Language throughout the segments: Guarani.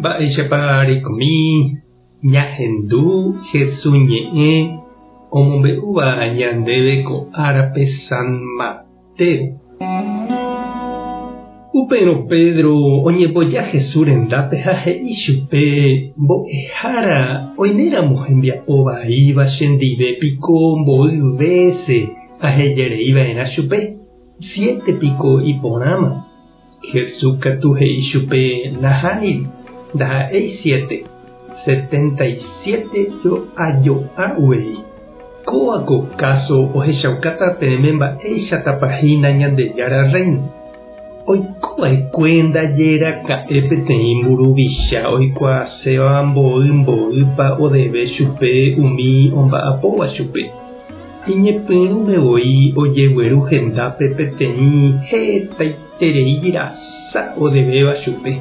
Mba'éichapa reikomi ñahendu Jesús ñe'ẽ omombe'úva ñandéve ko árape San Mateo? Upérõ Pedro oñemboja Jesús rendápe ha he'i chupe, Mbo'ehára, oiméramo hembiapo vaíva chendive piko mboy vése ahejereiva'erã chupe, siete piko iporãma. Jesús katu he'i chupe nahániri, ndaha'éi siete, setenta y siete jo'ajo'a guei. Kóva ko káso ohechaukáta peẽme mba'éichatapa hína Ñandejára Rréino. Oiko va'ekue ndaje raka'e peteĩ mburuvicha oikuaaséva mboy mboýpa odeve chupe umi omba'apóva chupe. Iñepyrũme voi ojegueru hendápe peteĩ hetaiterei rasa odevéva chupe,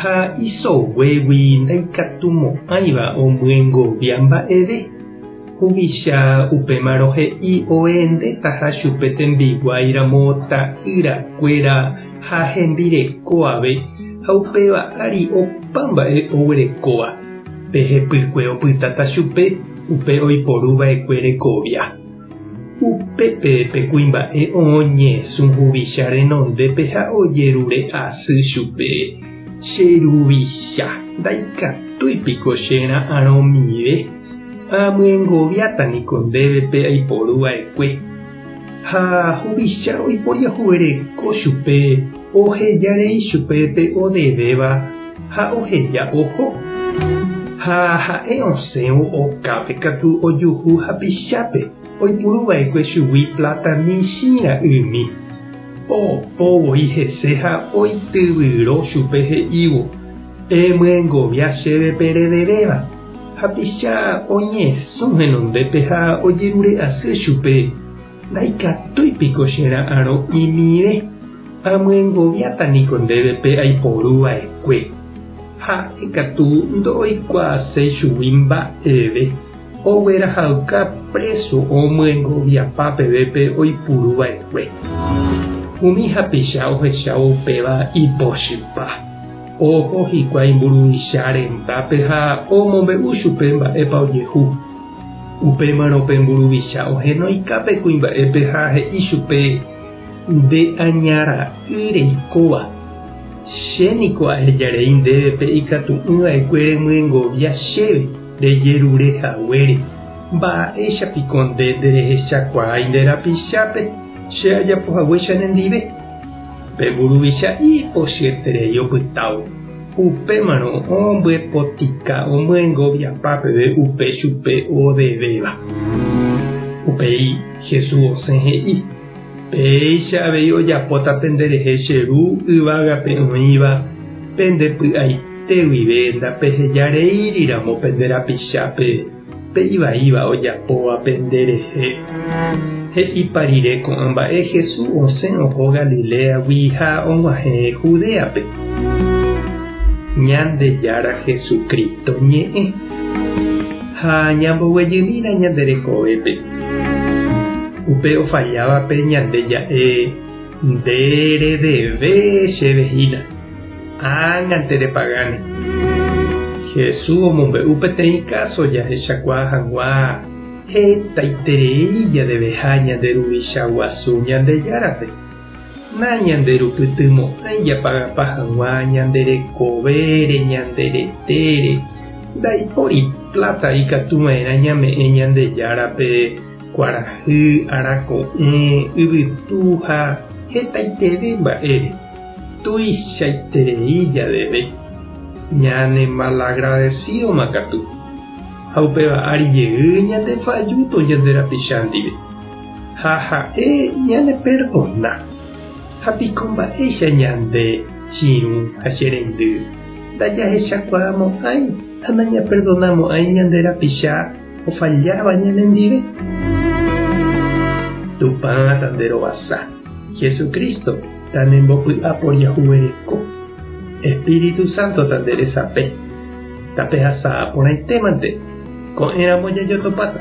ha isoguégui ndaikatumo'ãiva omyengovia mba'eve. Huvicha upémarõ he'i ohendetaha chupe tembiguái ramo ta'ýra kuéra ha hembireko ave ha upéva ári opa mba'e oguerekóva. Pe hepykue opytáta chupe. Upe oiporu vaekue rekovia. Upépe pe kuimba'e o'õ ñesũ huvicha renondépe ha ojerure asy chupe, Che ruvicha, ndaikatúi piko che ra'arõ mire? Amyengoviáta niko ndéve pe aiporu vaekue. Ha huvicha oiporiahuvereko chupe ohejarei chupe pe odevéva ha oheja oho. Ha ha'e osẽvo okápe katu ojuhu hapichápe oipuruva'ekue chugui pláta michĩ ra'ymi. Opo voi hese ha oityvyro chupe he'ívo, Emyengovia chéve pe redevéva. Hapicha oñesũ henondépe ha ojerure asy chupe, Ndaikatúi piko che ra'arõ imirẽ? Amyengoviáta niko ndéve pe aiporu va'ekue. Ha'e katu ndoikuaaséi chugui mba'eve, oguerahayka préso omyengoviapa peve pe oipuru va'ekue. Umi hapicha ohechávo upéva ipochypa. Oho hikuái mburuvicháre Mbappé ha omombe'u chupe mba'épa ojehu. Upémarõ pe mburuvicha ohenoika pe kuimba'épe ha he'i chupe, Nde aña ra'y reikóva. Che niko aheja rei ndéve pe ikatu'ỹ va'ekue remyengovia chéve rejerure haguére. Mba'éicha piko nde nderehechakuaái nde rapichápe che ajapo haguéicha nendive? Pe mburuvicha'i ipochyeterei opytávo, upémarõ ombyepotĩka omyengoviapa peve upe chupe odevéva. Upéi Jesús osẽ he'i, Péicha avei ojapóta penderehe che Ru yvágape oĩva pende py'aite guive ndapeheja reíriramo pende rapichápe. Pe ivaíva ojapóvape nde rehe. He'ipa rire ko'ã mba'e, Jesús osẽ oho Galiléagui ha og̃uahẽ Judéape. Ñandejára Jesucristo ñe'ẽ. Ha ñamboguejymína ñande rekovépe. Upe ofallávape ñande ja'e, Nde redeve chéve hína. Ág̃ante repagáne. Jesús omombe'u peteĩ káso jahechakuaa hag̃ua hetaiterei jadeveha ñande Ruvicha guasu Ñandejárape. Nañanderupytymo'ãi japagapa hag̃ua ñande rekovére, ñande retére. Ndaipóri pláta ikatu va'erã ñame'ẽ Ñandejárape kuarahy, arako'ẽ, yvytu ha hetaiterei mba'ére. Tuichaiterei javeve, ñanemalagradesídoma katu, ha upéva ári jey ñandefallúto ñande rapicha ndive, ha ha'e ñaneperdona. Ha piko mba'éicha ñande chiru ha che rendy ndajahechakuaamo'ãi ha nañaperdonamo'ãi ñande rapicha? ofalláva ñanendive? Tupã tanderovasa, Jesucristo tanembopy'apo jahuvereko, Espíritu Santo tanderesape. Tapehasa'ã porãitémante, ko'ẽramo jajotopáta.